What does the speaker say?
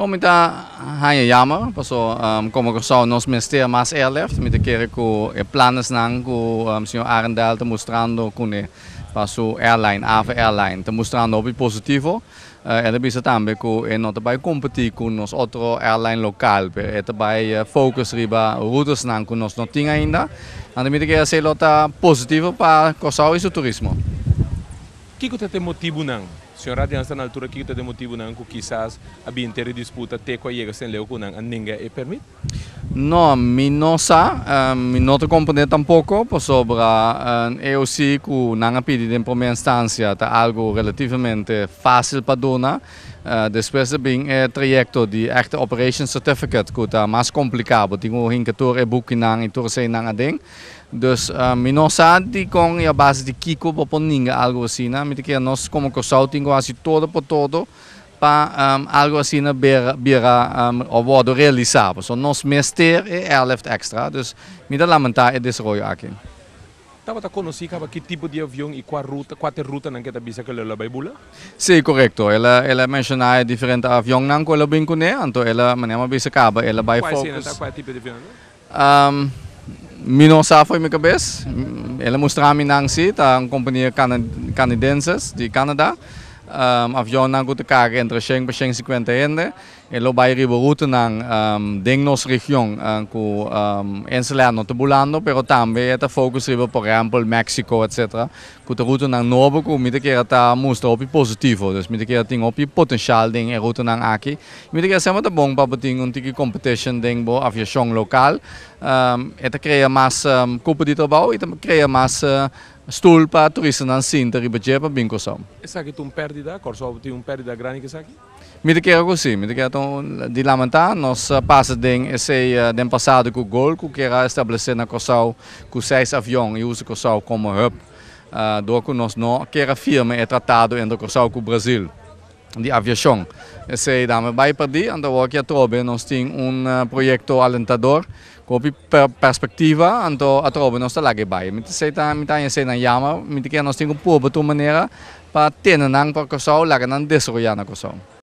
Bo mi ta haña yamer paso como Kòrsou nos mester mas airlift, mi ta kere ku e planesnan ku señor Arendel ta mustrando kuné pa su airline, Ava Airline, ta mustrando hopi positivo. El a bisa tambe ku e no ta bai kompetí ku nos otro airline lokal pero e ta bai focus riba rutesnan ku nos no tin ainda. Anto mi ta kere esei lo ta positivo pa Kòrsou i su turismo. Kiko ta den motibunan? Señor Radians ta na altura kiko ta den motibunan ku kisas a bin te ridisputa te ku a yega St. Leo ku nan a ninga e permit? No, mi no sa. Mi no ta komprende tampoko pasobra e OC ku nan a pidi den promé enstansia ta algu relativamente fásil pa duna. Despues ta bin e trayekto di Active Operation Certificate ku ta mas kompliká. Bo tin ku hinka tur e bukinan i tur esei nan aden. Dus mi no sa di kon i a base di kiko bo por ninga algo asina. Mi ta kere nos komo Kòrsou tin ku hasi todo por todo pa algo asina bira bira òf wòrdu realisá. Pasobra nos mester e èlèft èkstra. Dus mi ta lamentá e desaroyo aki. Tabata konosí kaba ki tipo di avion i kua ruta, kua ta e rutanan ku e ta bisa ku elo a bai bula? Sí, korekto. El a el a menshoná e diferente avionnan ku el a bin kuné. Anto el a, manera mi a bisa kaba, el a bai Kua esena ta? Kua tipo di avionnan ta? Mi no sa fo'i mi cabes. El a mustrami nan si ta un compania canidenses di Canada. Avionnan cu ta carga entre shen pa shen cincuenta hende e lo bay riba rutenan den nos region cu enselea no ta bulando pero tambe e ta focus riba por ehempel Mexico etc. Cu ta rutonan nobo cu mi ta kier ta mustra hopi positivo. Dus mi ta kier tin hopi potencial den e rutonan aki. Y mi ta kier semper ta bon pa bo tin un tiki competition den bo aviacion local. E ta crea mas cupo di trabao y ta crea mas stoel pa turistanan sinta riba dje pa bin Curaçao. Esaki ta un perdida. Curaçao tin un perdida grandi cu esaki. Mi ta kere ku si. Mi ta kere ta un di lamentá. Nos a pasa den esei den pasado ku gol ku kier a establesé na Kòrsou ku seis avion i usa Kòrsou komo hub dor ku nos no kier a firma e tratado entre Kòrsou ku Brazil di aviashon. Esei dame bai perdí. Anto awor ki atrobe nos tin un proyekto alentador Hopi perspectiva anto atrobe nos ta laga e bai. Mi ta esey ta mi ta haña eseynan yammer. Mi ta kere nos tin ku pobo tur manera pa tene nan pa Kòrsou, laga nan desaroyá na Kòrsou.